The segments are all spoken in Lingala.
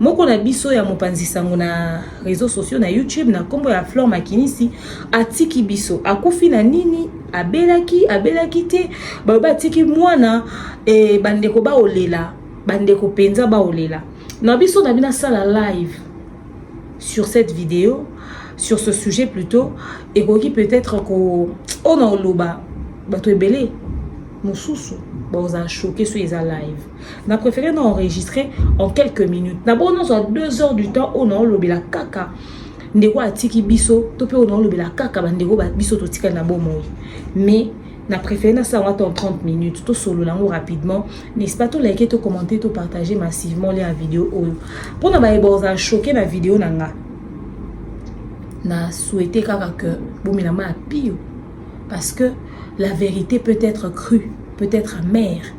Moko na biso ya mopanzi sango na réseaux sociaux na YouTube na kombo ya Flore Makinisi atiki biso. Akufi na nini? Abelaki, abelaki te. Baloba atiki mwana e bandeko baolela, bandeko penza baolela. Na biso na bina sala live sur cette vidéo, sur ce sujet plutôt, ekoki peut-être ko ona oloba bato ebele mosusu baoza choquer sur eza live. na préféré na enregistre en quelques minutes na bongo nazwa 2 heures du temps oyo naolobela kaka ndeko atiki biso to mpe oyo naolobela kaka bandeko biso totikali na bomoi mais na préféré nasala yango ata en 30 minutes tosolola yango rapidement n'est-ce pas tolike tocommente topartage massivement lia ya video oyo mpo na baye bozala choke na video na nga na souhaite kaka ke bomela ma ya pio parce que la vérité peut être crue peut être amère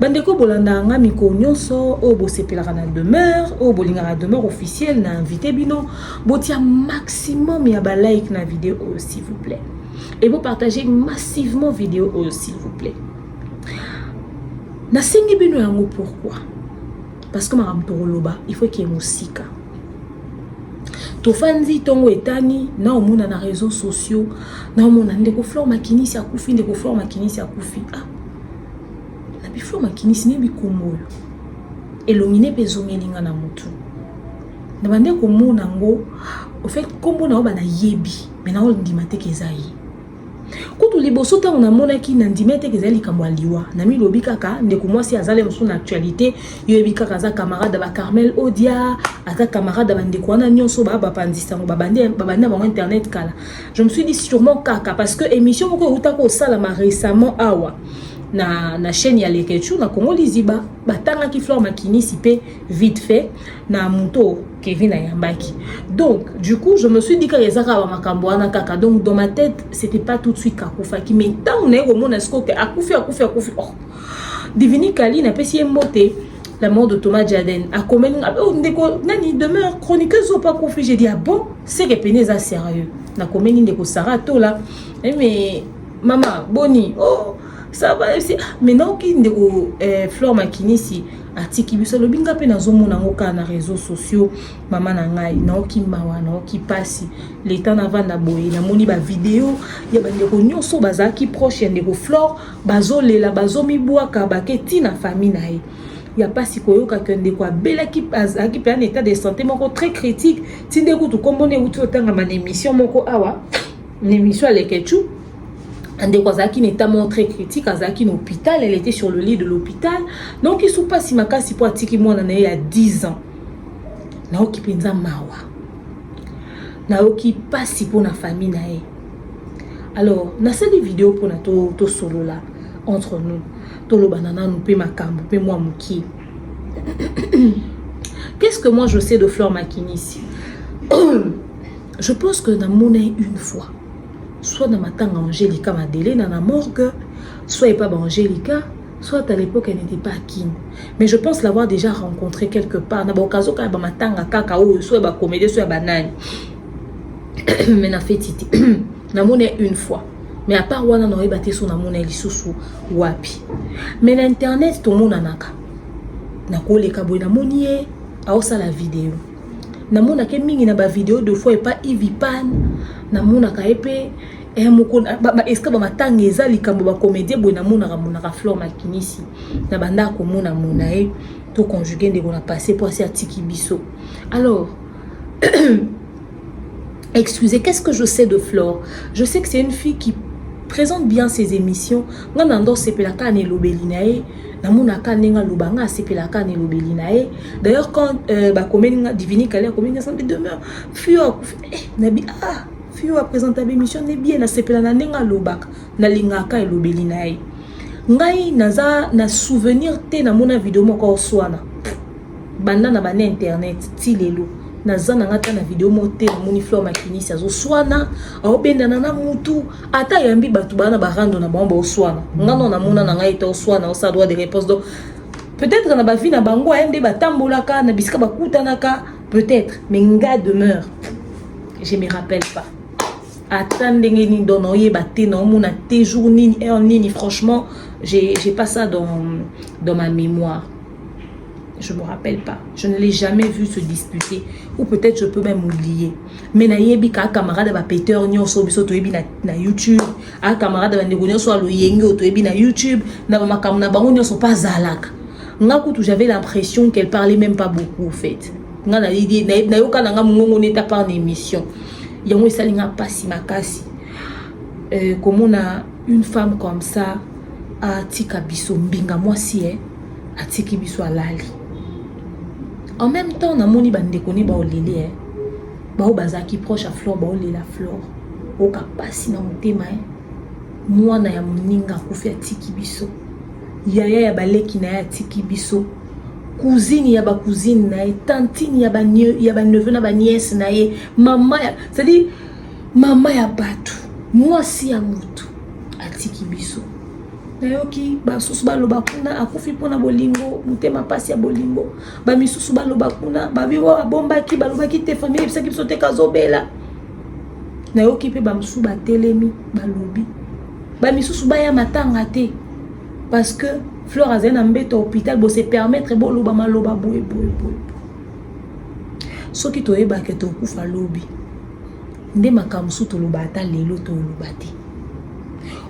bandeko bolandaka nga mikolo nyonso oyo bosepelaka na demeure oyo bolingaka demeure officielle na invité bino botia maximum ya balike na video oyo s'il vous plaît et bopartage massivement video oyo s'il vous plaît nasengi bino yango pourquoi parce que makambo tokoloba il faut eke mosika tofandi ntongo etani na omona na réseau sociaux na omona ndeko flore makinisi akufi ndeko flore makinisi akufi ah. na biflore makinisi ne bikombo oyo elongi ne mpe ezongeli nga na motu na bande komona yango ofait nkombo na yo banayebi me na ondima te ke eza ye kutu liboso ntango namonaki na ndimia te ezali likambo ya liwa namilobi kaka ndeko mwasi azali mosusu na actualité yoyebi kaka aza camarade ya bacarmel odia aza camarade ya bandeko wana nyonso baa bapanzi sango babandi na bango internet kala je me suis dit sûrement kaka parce que émission moko eutaki kosalama récemment awa na, na chaîne ya lekechou na congo liziba batangaki flore makinisi mpe vite fait na moto Kevin ayambaki donc du coup je me suis dit kaka eza kaka bamakambo wana kaka donc dans ma tête c'était pas tout de suite kakufaki mais ntango naye komona sikoyo ke akufi akufi akufi oh. divini kali napesi ye mbote la mort de Thomas Jaden akomeli nga oh, ndeko nani demeure chroniqueuse oyo pa kufi j'ai dit ah bon seke pene eza sérieux nakomeli ndeko Sarah Tola eh, mais mama boni oh ça va ah, mais naoki ndeko eh, Flore Makinisi atiki biso alobi nga mpe nazomona yango kaka na réseau sociaux mama na ngai naoki mawa naoki mpasi leta navanda boye namoni bavideo ya bandeko nyonso bazalaki proche ya ndeko flore bazolela bazomibwaka bake ti na famille na ye ya mpasi koyoka ke ndeko abelaki azalaki mpe na état de santé moko très critique ti nde kutu nkombo na euti otangama na émission moko awa na émission ya lekechou ndeko azalaki na etat moko très critique azalaki na hôpital elle était sur le lit de l'hôpital nayoki su mpasi makasi mpo atiki mwana na ye ya 10 ans nayoki mpenza mawa nayoki mpasi mpo na famille na ye alors nasali video mpona tosolola to entre nous tolobana nanu mpe makambo mpe mwa mokie qu'est-ce que moi je sais de fleur makinisi je pense que namonai une fois soit na matanga angelica madelena na morgue soit epa ba angelica soit à l'époque elle n'était pas à kin mais je pense l'avoir déjà rencontré quelque part na baoccasion kaka bamatanga kaka oyo soit ya bacomédie soit ya banani mais na feti te namona une fois mais à part wana naoyeba te so namona ye lisusu wapi mais na internet tomonanaka nakoleka boye namoni ye aosala video namonaka ye mingi na bavideo de fois epa ivipan namonaka ye mpe eh, eske bamatanga eza likambo bacomédie boye namonaka monaka flore makinisi na bandaka komona mona ye to conjugue ndeko na passe mpo asi atiki biso alors excusez qu'est-ce que je sais de flore je sais que c'est une fille qui présente bien ses émissions nga na ndo sepelaka na elobeli na ye namona aka ndenge aloba nga asepela aka na elobeli na ye d'ailleurs quand euh, bakomeli nga divini kale akomeli nga sambi demeure fio akufi eh, nabi ah fio apresenta bémission ne bien nasepela na ndenge alobaka nalingaka elobeli na ye ngai naza na souvenir te namona video moko oswana banda na bana internet ti lelo naza na nga ata na video moko te namoni fleur makinisi azoswana aobendana na mutu ata ayambi bato baa na barando na bango baoswana nga no namona na ngai ete oswana osa droit de réponse donc peut-être na bavi na bango aye nde batambolaka na bisika bakutanaka peut-être mais nga demeure je me rappelle pas ata ndenge nini donc naoyeba te naomona te jour nini heure nini franchement j'ai pas ça dans, dans ma mémoire je me rappelle pas je ne l'ai jamais vu se disputer ou peut-être je peux même oublier mais nayebi kaa camarade ya bapeteurs nyonso biso toyebi na, na youtube aa camarade ya bandeko nyonso ya loyenge oyo toyebi na youtube na bamakambo na bango nyonso mpe azalaka nga kutu j'avais l'impression qu'elle parlait même pas beaucoup au fait nga nayoka na nga mongongo neta par na émission yango esali nga mpasi makasi euh, komona une femme comme ça atika biso mbinga mwasi eh? atiki biso alali en même temps namoni bandeko ne baolele eh. baoyo bazalaki proche ya flore baolela flore oyoka mpasi na motema eh. mwana ya moninga akufi atiki biso yaya ya baleki na ye atiki biso cousine ya bacousine na ye tantine ya baneveu na baniese na ye mama ya cestadire mama ya bato mwasi ya motu atiki biso nayoki basusu baloba kuna akufi mpona bolingo motema mpasi ya bolingo bamisusu baloba kuna babiwa babombaki balobaki te famille ayebisaki biso te kazobela nayoki mpe bamosusu batelemi balobi bamisusu baya matanga te parce que fleur azali na mbeto ya hôpital bose permettre boloba maloba boye boye boye soki toyebake tokufa lobi nde makambo mosusu toloba ata lelo toloba te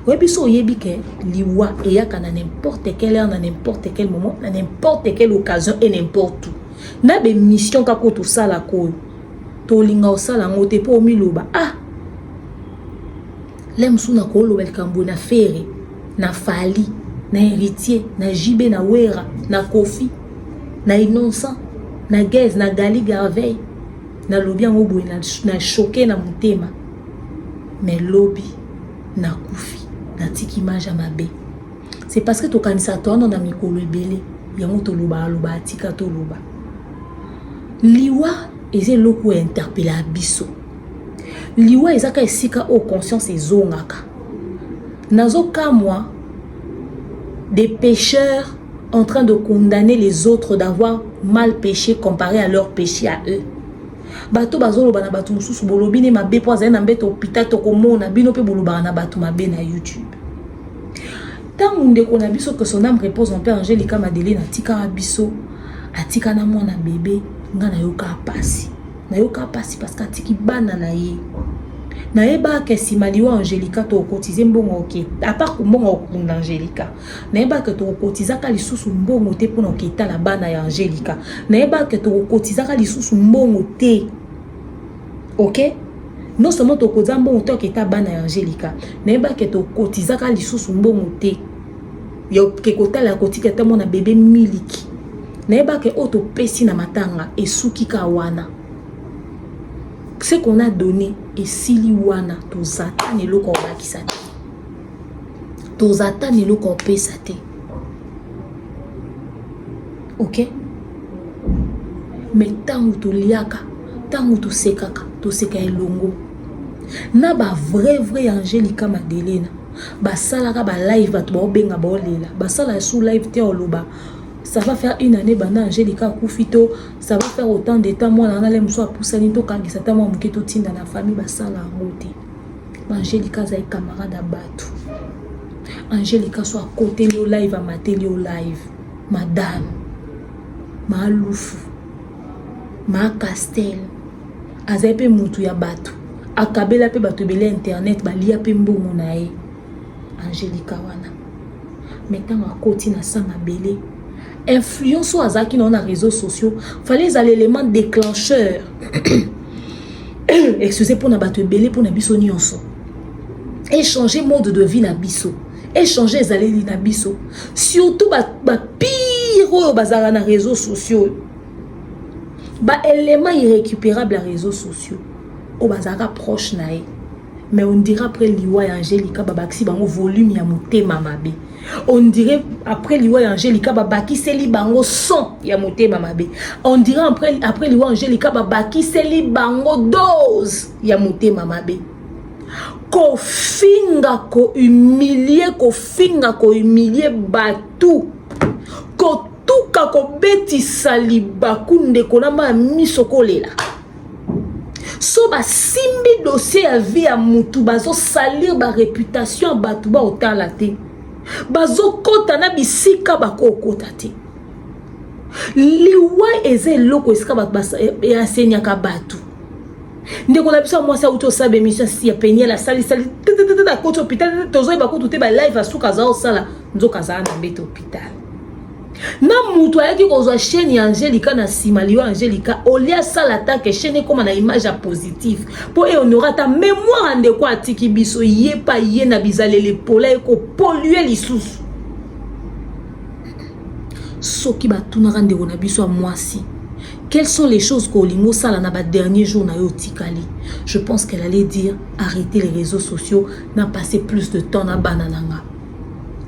oyebi so oyebi ke liwa eyaka na n'importe quelle heure na n'importe quel moment na n'importe quelle occasion et n'importe où na bemission kaka oyo tosalaka oyo tolinga osala yango te mpo omiloba ah le mosusu nakoloba likambo na fere na fali na héritier na jibe na wera na kofi na innocent na gaise na gali garveille nalobi yango boye na choke na motema mais lobi nakufi natiki image ya mabe c'est parce que tokanisaka towana na mikolo ebele yango tolobaka loba atika toloba liwa eza eloko ya interpele ya biso liwa eza ka esika oyo conscience ezongaka Nazo kamwa des pecheurs en train de condamner les autres d'avoir mal peche comparé à leur peche à eux bato bazoloba na bato mosusu bolobi ne mabe mpo azali na mbeto hôpital tokomona bino mpe bolobaka na bato mabe na youtube ntango ndeko na biso que son âme repose en paix angelica madeline atikaka biso atika na mwana bebe ngai nayokaa mpasi nayoka mpasi parceke atiki bana na ye nayebaka nsima liwa angelica tokokotize mbongo oke apart mbongo ya kokunda angelica nayebaka tokokotizaka lisusu mbongo te mpona koketala bana ya angelica nayebaka tokokotizaka lisusu mbongo te oke non seulement tokotiza mbongo to aketa bana ya angelica nayebaka tokotizaka lisusu mbongo te ya oke kotala ya kotika ata mwana bebe miliki nayebaka oyo topesi na matanga esuki ka wana ce qu'on a donné esili wana toza ata na eloko ya kobakisa te toza ata na eloko ya kopesa te ok me ntango toliaka ntango tosekaka toseka elongo na bavrai vrai angelica madelena basalaka ba live bato baobenga baolela basalaka sous live te oloba ça va faire une année banda angelica akufi to ça va faire autant de temps mwana wana le mosusu apusani tokangisa ta mwa moke totinda na famille basala yango te angelica azali camarade ya bato angelica so akoteli yo live amateli yo live madame maalufu maakastele azali mpe mutu ya bato akabela mpe bato ebele ya internet balia mpe mbongo na ye angelica wana me ntango akoti na sa mabele influence oyo azalaki na yo na réseaux sociaux fallait ezala élément déclencheur excuse mpo na bato ebele mpo na biso nyonso échanger mode de vie na biso échanger ezaleli na biso surtout bapire ba oyo bazalaka na réseaux sociaux ba éléments irrécupérables ya réseaux sociaux oyo bazalaka proche na ye mais on dirait après liwa ya angelica babakisi bango volume ya motema mabe on dirait après liwa ya angelica babakiseli bango son ya motema mabe on dirait après, après liwa angelica babakiseli bango dose ya motema mabe kofinga kohumilie kofinga kohumilie bato tuka kobetisa libaku ndeko na maya miso kolela so basimbi dossier ya vie ya mutu bazosalir bareputation ya bato baotala te bazokɔta na bisika bakokota te liwa eza eloko esika bato easenyaka eh, bato ndeko na biso ya mwasi auti osala bemission si ya peniel asalisali tetetete akoti hôpital tozoyeba kutu te balive asuka aza osala nzoka azala na mbete hôpital na mutu ayaki kozwa chaîne ya angelica na nsima liyo angelica olie asala atake chaîne ekóma na image ya positif mpo ehonore ata mémoire ya ndeko atiki biso ye pa ye na bizaleli epola ekopolue lisusu soki batunaka ndeko na biso ya mwasi quelles sont les choses que olingi osala na badernier jour na yo otikali je pense qu'elle allait dire arrêter les réseaux sociaux na passer plus de temps na bana na nga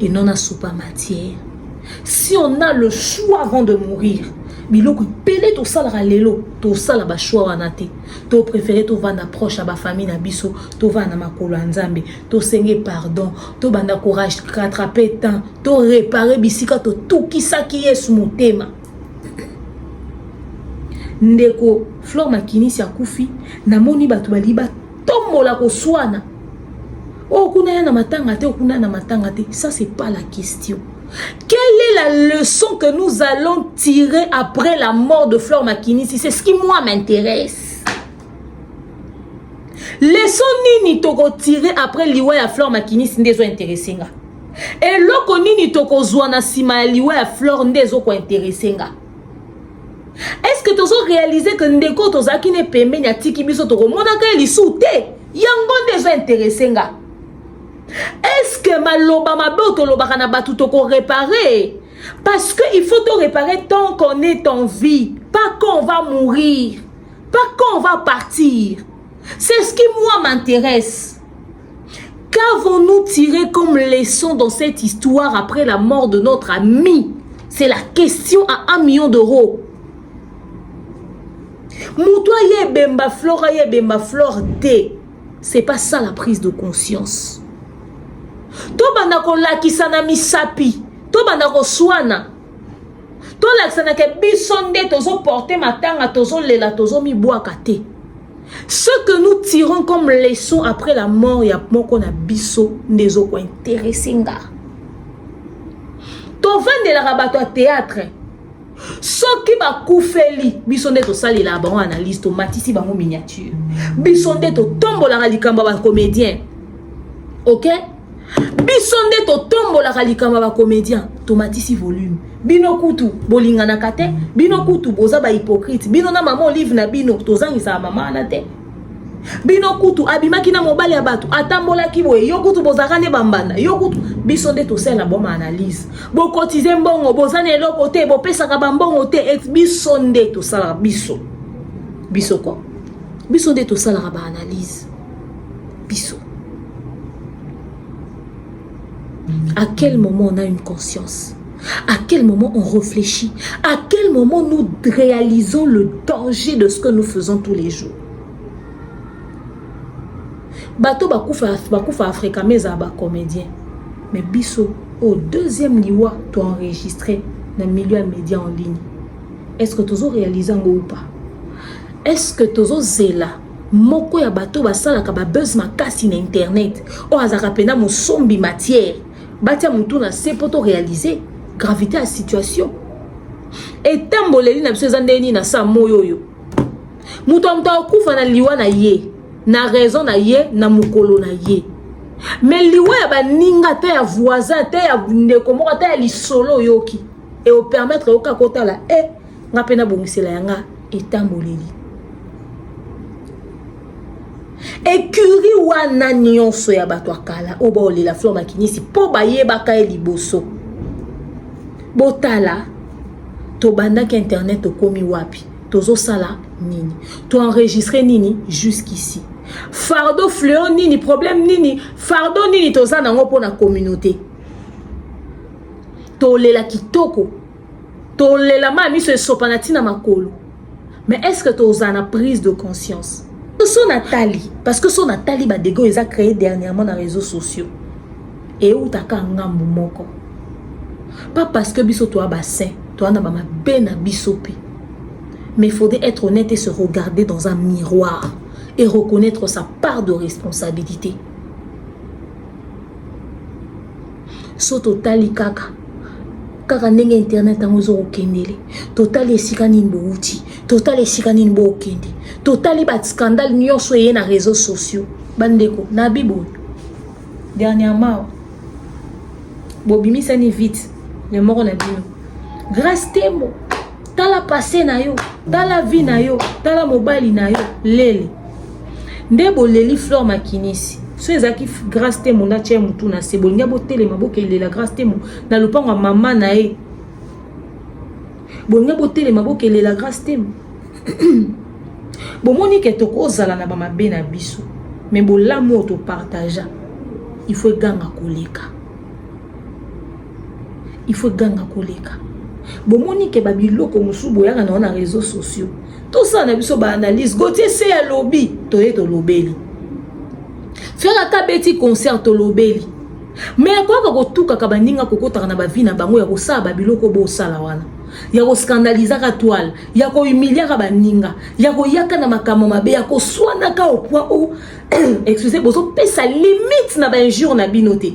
et non na soupa matière si on a le choix avant de mourir biloko ebele tosalaka lelo tosala bachoix wana te to préféré tovanda proche ya bafamille na biso tovanda na makolo ya nzambe tosenge pardon tobanda courage rattrape temps to réparer bisika totukisaki yesu motema ndeko flore makinisi akufi namoni bato balingi Tombola koswana. Oh, kuna ya na matanga te, oh, kuna na matanga te. Ça, c'est pas la question. Quelle est la leçon que nous allons tirer après la mort de Flore Makinisi C'est ce qui, moi, m'intéresse. Leçon nini toko tirer après liwa ya Flore Makinisi nde ezo intéressé nga. Eloko nini toko zwa na sima ya liwa ya Flore nde ezo ko intéressé nga. est-ce que tozo réaliser que ndeko tozalaki ne pembeni atiki biso tokomonaka ye lisusu te yango nde ezo interese nga est-ce que maloba mabe oyo tolobaka na bato tokorepare parce que il faut torepare tant qu'on est en vie pas quand on va mourir pas quand on va partir c'est ce qui moi m'intéresse Qu'avons-nous tiré comme leçon dans cette histoire après la mort de notre ami C'est la question à un million d'euros. Moutoua ye bemba flore, ye bemba flore D. C'est pas ça la prise de conscience. Tobanda ko lakisa na misapi, tobanda ko swana. Tolakisa na ke biso nde tozo porter matanga, tozo lela, tozo mibwaka te. Ce que nous tirons comme leçon après la mort ya moko na biso nde ezokointeresse nga tovandelaka bato ya théâtre soki bakufeli biso nde tosalelaka bango analyse tomatisi bango miniature biso nde totombolaka likambo ya bacomédien ok biso nde totombolaka likambo ya bacomedien tomatisi volume bino kutu bolinganaka te bino kutu boza bahypocrite bino na mama olive na bino tozangisaka mama wana te bino kutu abimaki na mobali ya bato atambolaki boye yo kutu bozalaka nde bambanda yo kutu biso nde tosalela boma analyse bokotize mbongo boza na eloko te bopesaka bambongo te et biso nde tosalaka biso biso ko biso nde tosalaka baanalyse biso à quel moment on a une conscience à quel moment on réfléchit à quel moment nous réalisons le danger de ce que nous faisons tous les jours bato bakufa bakufa afrika me ezala bacomédien mais biso au deuxième liwa to enregistré na milieu ya média en ligne est ce que tozo réalise yango ou pas est ce que tozo zela moko ya bato basalaka ba buzz makasi na internet oyo azalaka mpena mosombi matière batia motu na se mpo to réaliser gravité ya situation etamboleli na biso eza ndenge nini na saa moi oyo moto ya moto akokufa na liwa na ye na raison na ye na mokolo na ye me liwa ya baninga ata ya voisin ata ya ndeko moko ata ya lisolo oyoki eopermettre oyoka kotala e eh, nga mpe nabongisela ya nga etamboleli ekuri wana nyonso ya bato ya kala oyo baolela flor makinisi mpo bayebaka ye liboso botala tobandaki internet tokomi wapi tozosala nini toenregistre nini jusqu'ici fardo fleo nini problème nini fardo nini toza nango mpo na communauté tolela kitoko tolela ma miso esopana ntina makolo mais est ce que tozala na prise de conscience so natali parce que so natali badege oyo eza créé dernièrement na réseaux sociaux eutaka ngambu moko pas parce que biso toa basin toa na bamabe na biso mpe mais il faudrait être honnête et se regarder dans un miroir et reconnaître sa part de responsabilité so totali kaka kaka ndenge internet yango ezokokendele totali esika nini bowuti totali esika nini bokende totali bascandale nyonso eye na réseau sociaux bandeko na biboyo dernièrement bobimisani vite ya moko na bino grace tembo tala passe na yo tala vie na yo tala mobali na yo lele nde boleli flore makinisi so ezalaki grace temo nde atya motu na se bolingi botelema bokelela grace temo na lopango ya mama na ye bolingi botelema bokelela grace temo bomoni ke tokozala na bamabe na biso me bolamu oyo topartagea il faut eganga koleka il faut ganga koleka bomoni ke babiloko mosusu boyaka na wana réseau sociaux tosala na biso baanalyse gotie se ya lobi toye tolobeli fere ata beti concert tolobeli me akoyaka kotukaka baninga kokotaka na bavi na bango ya kosala babiloko bosala wana ya koskandalizaka twale ya kohumiliaka baninga ya koyaka na makambo mabe ya koswanaka opoi o excuse bozopesa limite na bainjure na bino te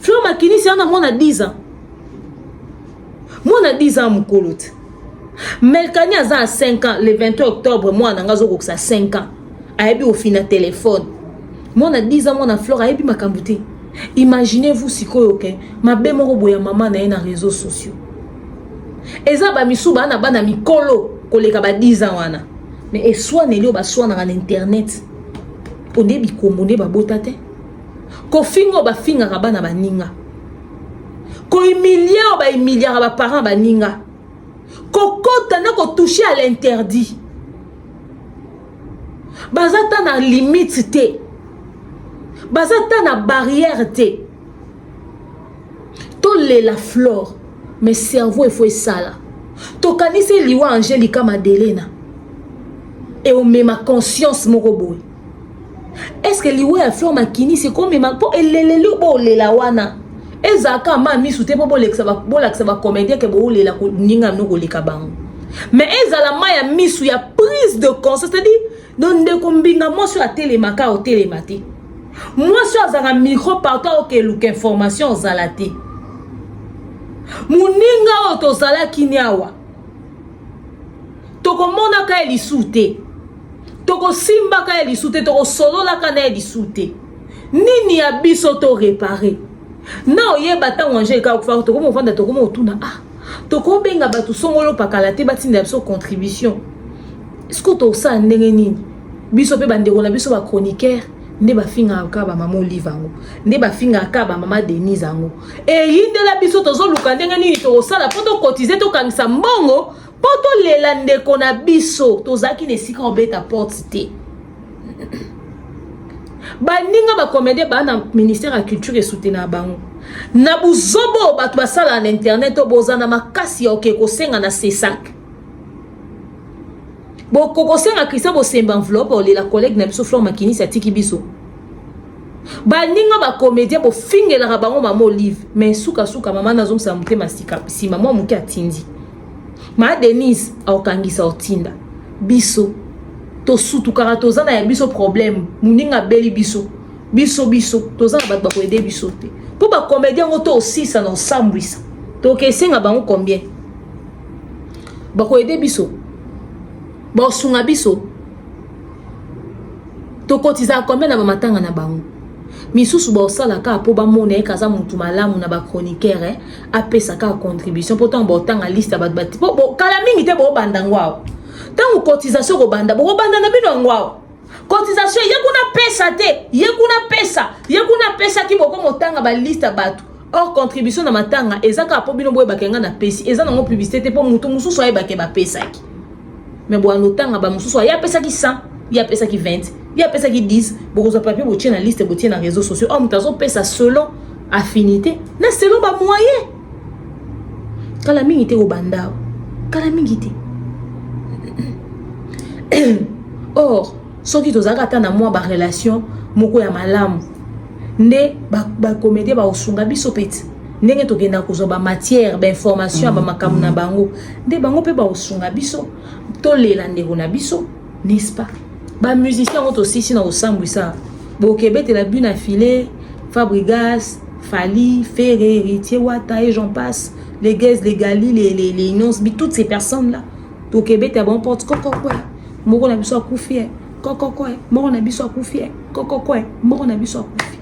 Fleur makinisi ana mwana 10 ans. Mwana 10 ans mukolo te. Melkani aza à 5 ans le 21 octobre mwana nga zo kokisa 5 ans. Ayebi ofina téléphone. Mwana 10 ans mwana Fleur ayebi makambo te. Imaginez-vous sikoyo ke okay? mabe moko boya mama na ye na réseaux sociaux. Eza ba misu bana bana mikolo koleka ba 10 ans wana. Mais eswaneli oyo baswanaka na internet. Onde bikombo nde babota te. kofinga oyo bafingaka bana baninga kohumilie oyo bahumiliaka baparent baninga kokota na kotouche à l'interdit baza ata na limite te baza ata na barrière te tolela flore mais cerveau efo esala tokanisi liwa angelica madelena eomema conscience moko boye eske liwa ya fleur makinisi ekomema mpo eleleli oyo boolela wana ezalaka ma misu te mpo bolakisa bacomédien ke boolela koninga no koleka bango mais ezala ma ya misu ya prise de conscience c'est-à-dire no ndeko mbinga mwasi oyo atelemaka otelema te mwasi oyo azalaka micro partout aoke eluka information ozala te moninga oyo tozalaki ni awa tokomonaka ye lisu te tokosimbaka ye lisu te tokosololaka na ye lisu te nini ya biso to repare na oyeba ntango ange eka okufa tokomi ofanda tokomi otuna ah tokobenga bato songolo pakala te batindela biso contribution siko tosala ndenge nini biso mpe bandeko na biso bachroniqueur nde bafingaka kaka bamama olive yango nde bafingaka kaka bamama denise yango eyindela biso tozoluka ndenge nini tokosala mpo tokotize tokangisa mbongo mpo tolela ndeko na biso tozalaki na esika obeta porte te baninga bakomedie baa na ministère ya culture esutena ya bango na buzobo bato basalaka na internet oyo bozala na makasi ya oke kosenga na sesak bokokosenga christian bosemba enveloppe olela collègue na biso flore makinisi atiki biso baninga bacomédien bofingelaka bango mama olive mais sukasuka mama nazongisa motema sika nsima mwa moke atindi ma denise aokangisa otinda biso tosutukaka toza na ya biso problème moninga abeli biso biso biso toza na bato bakoyede biso te mpo bacomédien yango to osisa na osambwisa tokesenga bango combien bakoyede biso bakosunga biso tokotizaka combien na bamatanga na bango misusu baosala kaka mpo bamona ye kaza motu malamu na bachroniqueur eh? apesa kaka contribution mpo ntango baotanga liste ya bato bati mpo kala mingi te boobanda yango awa ntango cotisation kobanda bokobanda na bino yango awa cotisation ye kuna pesa te ye kuna pesa ye kuna pesa ki boko motanga ba liste bato or contribution na matanga eza kaka mpo bino boyebaka nga napesi eza nango publicité te mpo moto mosusu ayebake bapesaki me boyano otanga bamosusu aye apesaki 100 ye apesaki 20 ye apesaki 10 bokozwa papie botie na liste botie na réseau sociaux or moto azopesa selon affinité na selon bamoyen kala mingi te obanda kala mingi te or soki tozalaka ata na mwa barelation moko ya malamu nde bakomedie ba bakosunga biso peti ndenge tokenda kozwa bamatière bainformation ya bamakambo na bango nde bango mpe bakosunga biso tolela ndeko na biso n'est-ce pas ba musiciens ngo tosisi na kosambwisa bokebetela but na filet fabrigas fali ferre héritier wata et j'en passe les guez les gali les, les, les inons bi toutes ces personnes là tokebeta bango porte kokokwe moko na biso akufi eh. kokokwe moko na biso akufi eh. kokokwe moko na biso akufi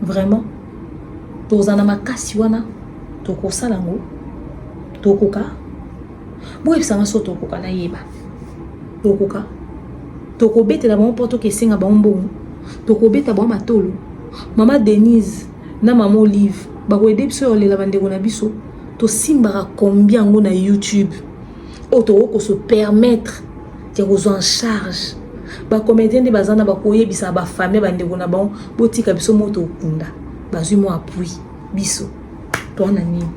vraiment tozala na makasi wana tokosala yango tokoka boyebisa nga so tokoka nayeba tokoka tokobetela bango mpo toka esenga bango mbongo tokobeta bango matolo mama denise na mama olive bakoyede biso ya olela bandeko na biso tosimbaka kombi yango na youtube oyo tokoki kose permettre ya kozwa en charge bacomédien nde baza na bakoyebisa bafamille bandeko na bango botika biso moto okunda bazwi mwa appui biso toa na nini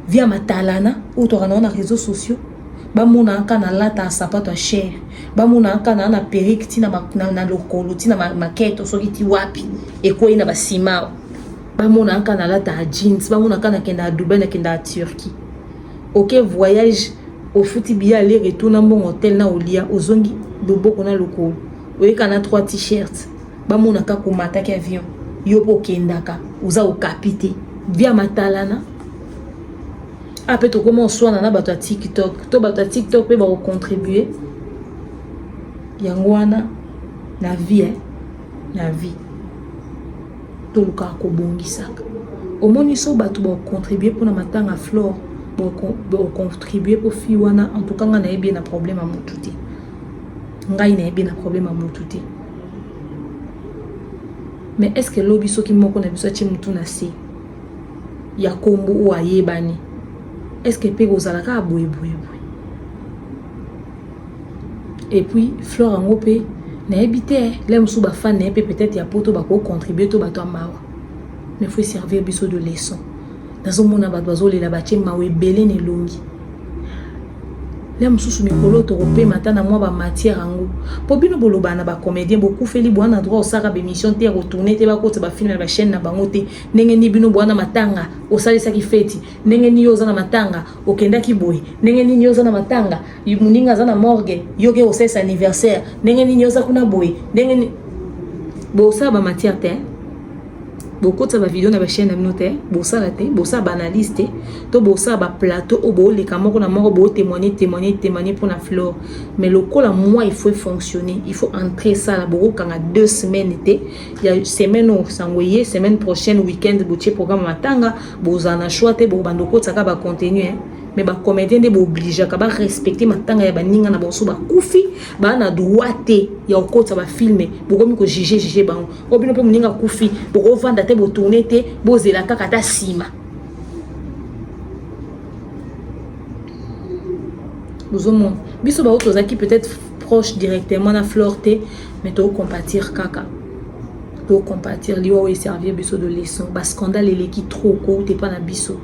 via matalana oyo toaka na wana réseaux sociaux bamona aka na lata sapato ya chere bamona aka na na perike ntina na, na lokolo ntina maketo soki ti wapi ekwei na basimao bamona aka na lata ya jeans bamona aka nakenda ya dubai nakenda ya turquie oke okay, voyage ofuti biya ale retour na mbongo hotel na olia ozongi loboko na lokolo oyeka na 3 t-shirt bamona kaka omataki avion yo mpe okendaka oza okapi te bia matalana ape ah, tokoma oswana na bato ya tiktok to bato ya tiktok mpe bakocontribue yango wana na vie eh? na vie tolukaka kobongisaka omoni so bato bakocontribue mpona matanga flore bakocontribue mpo fille wana en tout cas ngai nayebi ye na problème ya motu te ngai nayebi ye na problème ya motu te mais est ce que lobi soki moko na biso atie motu na se ya kombo oyo ayebani est ce que mpe kozala kaka boyeboyeboye et puis flore yango mpe nayebi te la mosusu bafane na ye mpe peut-être ya poto bakocontribue to bato ya mawa mais faut servir biso de leçon nazomona bato bazolela batie mawa ebele na elongi le mosusu mikolo tokopema ata na mwa bamatière yango mpo bino bolobana na bacomédien bokufeli bwana droit osalaka baémission te ya kotourne te bakotisa bafilme na bachaîne na bango te ndenge nini bino bwana matanga osalisaki feti ndenge nini yo oza na matanga okendaki boye ndenge nini yo oza na matanga moninga aza na morgue yo ke osalisa anniversaire ndenge nini yo oza kuna boye ndenge nini bosala bamatière te bokotisa bavideo na bachaine na bino te bosala te bosala baanalyse te to bosala baplateau oyo booleka moko na moko bootemoigne témoigne témoigne mpo na flore mais lokola moi il faut efonctionner il faut entre esala bokokanga deux semaines te ya semaine oyo sango eye semaine prochaine week-end botie programme matanga bozala na choix te bokobanda okotisa kaka bacontenu mais bacomédien nde boobligeaka barespecte matanga ya baninga na banso bakufi baa na droit te ya kokotisa bafilme bokomi kojuge juge bango oyo oh, bino mpe moninga akufi bokovanda te botourne te bozela kaka ata nsima bozomona biso baoyo tozalaki peut-être proche directement na flore te mais tokocompatir kaka tokocompatir liwa oyo eservir biso de leçon bascandale eleki trop kouta epa na biso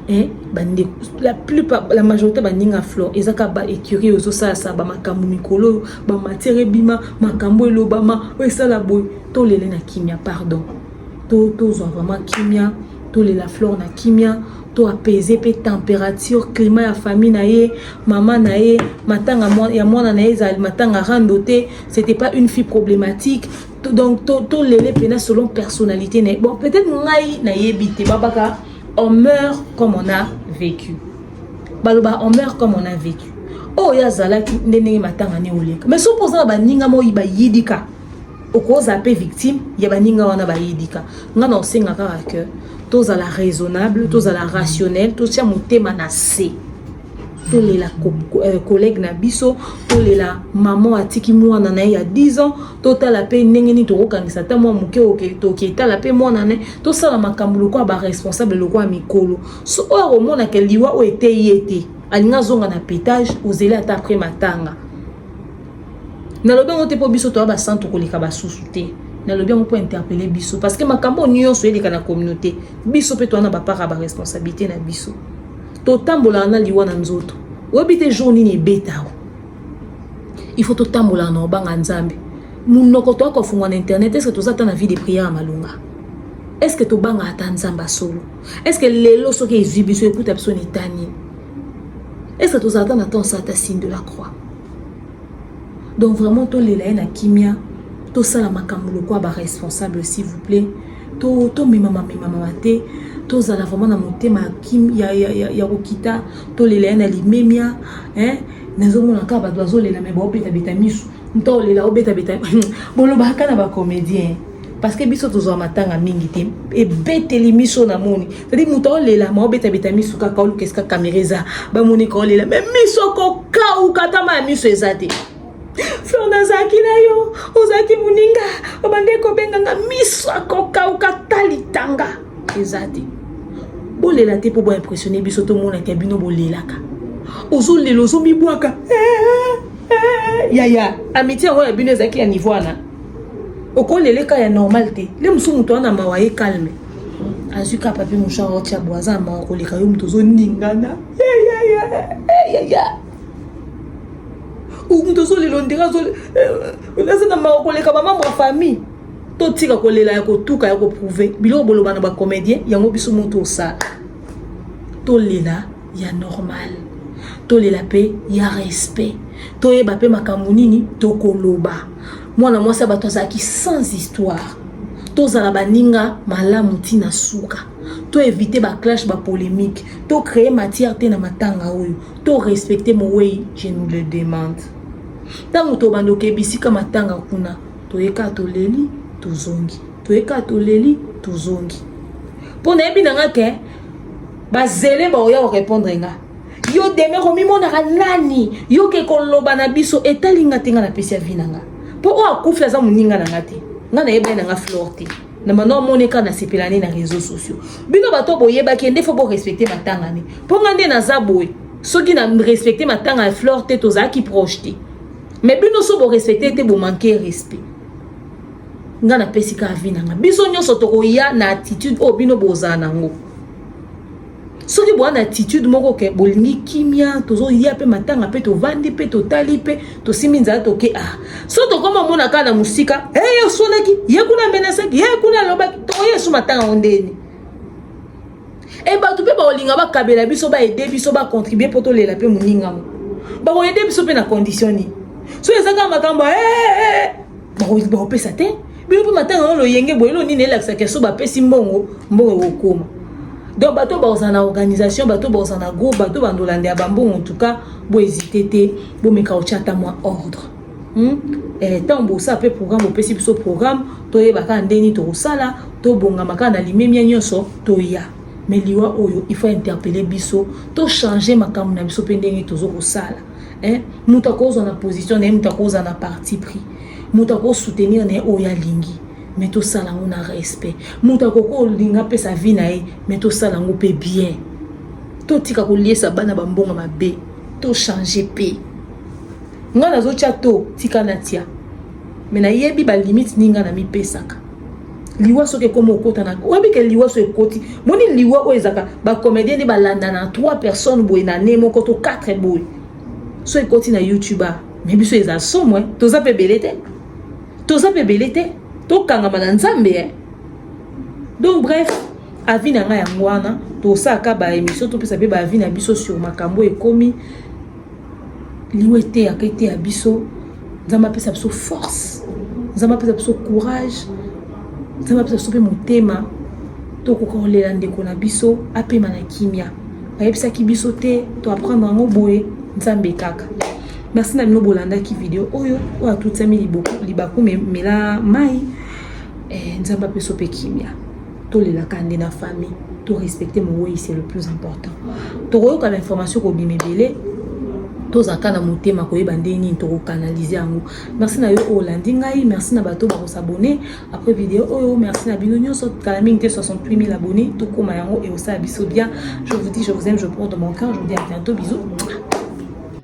eh, bandeko la plupart la majorité baninga flore eza kaka ba écurie ozosalasa bamakambo mikolo oyo ba matière ebima makambo elobama oyo esala boye tolele na kimia pardon to tozwa vraiment kimia tolela flore na kimia to apaiser mpe température climat ya famille na ye mama na ye matanga ya mwana na ye ezali matanga rando te c'était pas une fille problématique donc tolele to mpena selon personnalité na ye bon peut-être ngai nayebi te babaka on meurt comme on a vécu baloba on meurt comme on a vécu oyo oh, ye azalaki nde ndenge matanga ne oleka mais soki oza na baninga moi bayidika okozala mpe victime ya baninga wana bayidika ngai na osenga kaka ke tozala raisonnable tozala rationnel totya motema na se tolela euh, collègue na biso tolela mama atiki mwana na ye ya 10 ans totala mpe ndenge nini tokokangisa ata mwa moke toki etala mpe mwana na ye tosala makambo lokola baresponsable lokola mikolo so oyo akomona ke liwa oyo eteyi ye te alingi azonga na petage ozeli ata apres matanga nalobi yango te mpo biso toya basantu koleka basusu te nalobi yango mpo interpele biso parce que makambo nyonso eleka na communauté biso mpe toya na bapart ya baresponsabilité na biso totambolaka na liwa na nzoto oyebi te jour nini ebetao il faut totambolaka na obanga nzambe monoko toya kofungwa na internet eske toza ata na vie de prière ya malonga eske tobangaka ata nzambe asolo est ce que lelo soki ezwi biso ekuta biso na eta nini est ce que tozalaka na temps asala ta signe de la croix donc vraiment tolela ye na kimia tosala makambo lokola baresponsable s'il vous plaît tomemama to memamama te tozala vraiment na motema ya, ya, ya, ya kokita tolela ye na limemia eh? nazomona kaka bato bazolela me baobetabeta misu nta olela obetabeta bolobaka na bacomédien parce que biso tozwa matanga mingi te ebeteli miso na moni cetadi moto aolela ma obetabeta miso kaka oluka esika kamera eza bamoni ka olela me miso kokauka tama ya miso eza te flor nazalaki na yo ozalaki moninga obandeki kobenganga miso akokauka talitanga eza te bolela te mpo boimpressione biso tomonaka bino bolelaka ozolela ozomibwaka eh, eh, eh, yaya amitie yango ya bino ezalaki ya niveau wana okolela eka ya normal te le mosusu moto wana mawa ye calme azwi ka papier mouchard otia bo aza na mawa koleka yo moto ozoningana moto ozolela ondira aza na mawa koleka bamambre ya famille totika kolela ya kotuka ya koprouve biloko boloba na bacomédien yango biso moto osala tolela ya normal tolela mpe ya respect toyeba mpe makambo nini tokoloba mwana mwasi ya bato azalaki sans histoire tozala baninga malamu ntina suka to éviter ba clash ba polémique to créer matière te na matanga oyo to respecter mowei je nous le demande ntango tobanda okeba esika matanga kuna toyeka toleli tozongi toyeka toleli tozongi mpo nayebi na nga ke bazele baoya korepondre nga yo demere omimonaka nani yoke koloba na biso etali nga te nga napesi avi na nga mpo oyo akufi aza moninga na nga te nga nayebani na nga flore te na mano amoni kaka nasepela nde na réseau sociaux bino bato boyebaki nde fo borespecte matanga ne mpo nga nde naza boye soki na respecte matanga ya flore te tozalaki proche te mais bino so borespecte te bomanke respect nga napesi ka avi na nga biso nyonso tokoya na attitude oyo bino bozala nango soki boya na attitude moko ke bolingi kimia tozoya mpe matanga mpe tovandi mpe totali mpe tosimbi nzala toke a ah. so tokoma omona kaka na mosika e ye oswanaki ye kuna amenasaki ye kuna alobaki tokoya esu matanga ngo ndeni e bato mpe bakolinga bakabela biso baede biso bacontribue mpo tolela mpe moningango bakoede biso mpe na condition nini so eza kaka makambo eh, eh, eh, bakopesa te bino mpe matanga yango loyenge boye elo nini elakisaka so bapesi mbongo mbongo ekokoma donc bato oyo bakozala na organisation bato oyo bakozala na groupe bato oyo bandolanda ya bambongo en tout cas boezite te bomeka kotya ata mwa ordre Hmm? Eh, ntango bosala mpe programme opesi biso programme toyeba kaka ndenge nini tokosala tobongama kaka na limemia nyonso toya me liwa oyo ifo interpele biso tochange makambo na biso mpe ndenge tozo kosala eh, moto akozwa na position na ye moto akozwa na parti pris moto akosoutenir na ye oyo alingi me tosala yango na respect moto akoki olinga apesa vie na ye me tosala yango mpe bien totika koliesa bana bambongo mabe tochange mpe Nga nazo tia to tika na tia. Mais nayebi ba limite ni nga na mi pesaka. Liwa soki ekomi okota na oyebi ke liwa so ekoti moni liwa oyo ezaka ba comédien nde balanda na 3 personnes boye na ne moko to 4 boye so ekoti na youtube ah, mais biso eza somo eh. toza mpe ebele te toza mpe ebele te tokangama na nzambe eh. donc bref avi na ngai yango wana tosalaka baémission topesa mpe baavi na biso sur makambo ekomi liwa eteyaka eteya biso nzambe apesa biso force nzambe apesa biso courage nzambe apesa biso mpe motema tokoka kolela ndeko na biso apema na kimia bayebisaki biso te to apprendre yango boye nzambe kaka merci na bino bolandaki video oyo oyo atutiami libaku memela mai eh, nzambe apeso mpe kimia tolela kande na famille to respecter moweyi c'est le plus important tokoyoka ba information kobima ebele tozalaka na motema koyeba ndenge nini tokokanalize yango merci na yo oyo olandi ngai merci na bato bakosabone après video oyo merci na bino nyonso kala mingi te 68000 abonné tokóma yango ekosala biso bien je vous dis je vous aime je porte dans mon cœur je vous dis à bientôt bisous